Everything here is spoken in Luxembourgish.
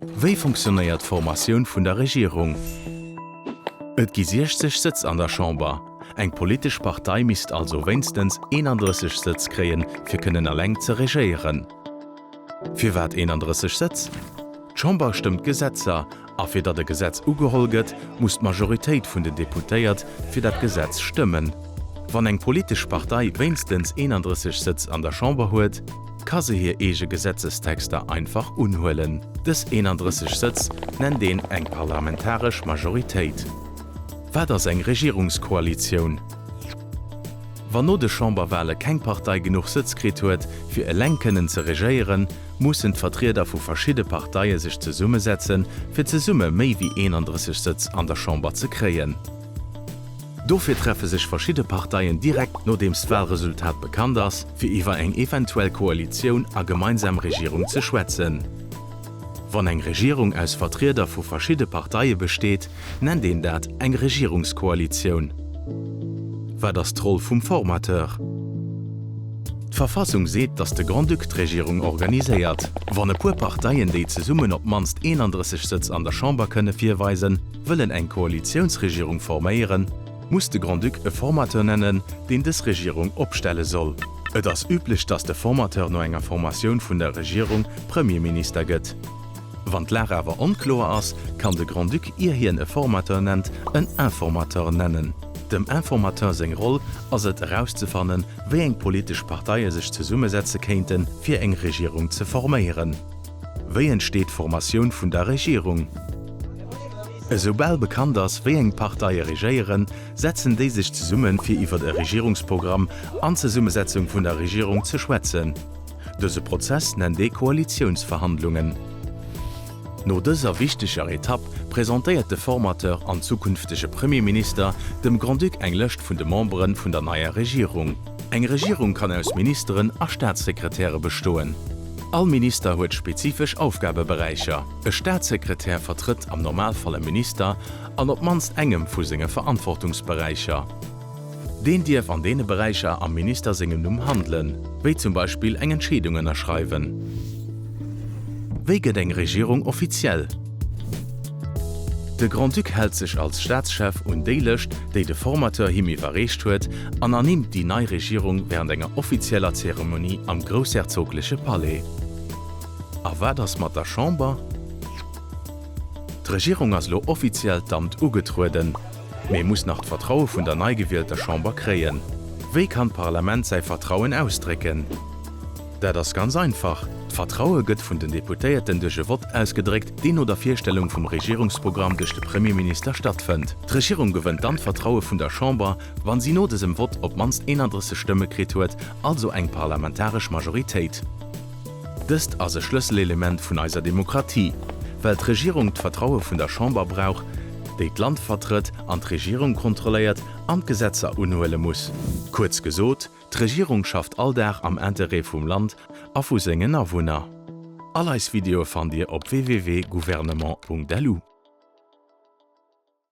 Wéi funktionéiert d'Formatioun vun der Regierung? Et gi 60 Sëtz an der Chamber. Eng politesch Partei misst also wéinstens 31 Sëtz kréien, fir kënnen eleng ze regéieren. Firwat 31 Sëtz? D'Chamber stëmmt d'Gesetzer a fir datt e Gesetz ugeholl gëtt, muss d'Majoritéit vun den Deputéiert fir dat Gesetz stëmmen. Wann eng politesch Partei wéinstens 31 Sëtz an der Chamber huet, ka se hir eege Gesetzestexter einfach unhuelen. Dës 31 Sëtz nennt een eng parlamentaresch Majoritéit. Wat ass eng Regierungskoalitioun? Wann no de Chamberwale keng Partei genuch Sëtz kritt huet, fir eleng kënnen ze regéieren, mussen d'Vertrieder vu verschidde Parteie sech zesummesetzen, fir zesumme méi wéi 31 Sëtz an der Chamber ze kréien. Dofir treffe sech verschidde Parteien direkt nodeems d'Walresultat bekannt ass, fir iwwer eng eventuell Koalitioun a gemeinsam Regierung ze schwätzen. Wann eng Regierung aus Vertrieder vu verschidde Parteie besteet, nennt een dat eng Regierungskoalitioun. Wat ass d'Roll vum Formateur? D'Verfassung seet, datt de Grand-Duc d'Regierung organiséiert. Wann e puer Parteien, déi zesummen op d'mannst 31 Sëtz an der Chamber kënne virweisen, wëllen eng Koalitiounsregierung forméieren, muss de Grand-Duc e Formateur nennen, deen dës Regierung opstelle soll. Et ass üblech, datt de Formateur no enger Formatioun vun der Regierung Premierminister gëtt. Wann d'Lag awer onkloer ass, kann de Grand-Duc, ier hien e Formateur nennt, en Informateur nennen. Dem Informateur seng Roll ass et, erauszefannen, wéi eng politesch Parteie sech zesummesetze kéinten, fir eng Regierung ze forméieren. Wéi entsteet d'Formatioun vun der Regierung? Esou bal bekannt ass, wéi eng Parteie regéieren, setzen déi sech zesumme fir iwwer e Regierungsprogramm an d'Zesummesetzung vun der Regierung ze schwätzen. Dëse Prozess nennt ee Koalitiounsverhandlungen. No dëser wichteger Etapp presentéiert de Formateur an zukünftege Premierminister dem Grand-Duc eng Lëscht vun de Membere vun der neier Regierung. Eng Regierung kann aus Ministeren a Staatssekretäre bestoen. All Minister huet spezifesch Aufgabeberäicher. E Staatssekretär vertrëtt am Normalfall e Minister an op d'mannst engem vu senge Verantwortungsberäicher. Deen dierf an deene Beräicher am Minister sengem Numm handelen, wéi zum Beispill eng Entscheedung ënnerschreiwen. Wéi gëtt eng Regierung offiziell? De Grand-Duc hält sech als Staatschef un déi Lëscht, déi de Formateur him iwwerreecht huet, an ernimmt déi nei Regierung wärend enger offizieller Zeremonie am groussherzogleche Palais. A wat ass mat der Chamber? D'Regierung ass elo offiziell d'Amt ugetrueden, mee muss nach d'Vertraue vun der nei gewielter Chamber kréien. Wéi kann d'Parlament säi Vertrauen ausdrécken? Dat ass ganz einfach, D'Vertraue gëtt vun den Deputéierten duerch e Vott ausgedréckt, deen no der Virstellung vum Regierungsprogramm duerch de Premierminister stattfënnt. D'Regierung gewënnt dann d'Vertraue vun der Chamber, wa si no dësem Vott op d'mannst 31 Stëmme kritt huet, also eng parlamentaresch Majoritéit. Dëst ass e Schlësselelement vun eiser Demokratie, well d'Regierung d'Vertraue vun der Chamber brauch, déi d'Land vertrëtt an d'Regierung kontrolléiert an d'Gesetzer unhuele muss. Kuerz gesot, D'Regierung schafft all Dag am Interêt vum Land a vu sengen Awunner. All eis Videoe fannt Dir op www.gouvernement.lu.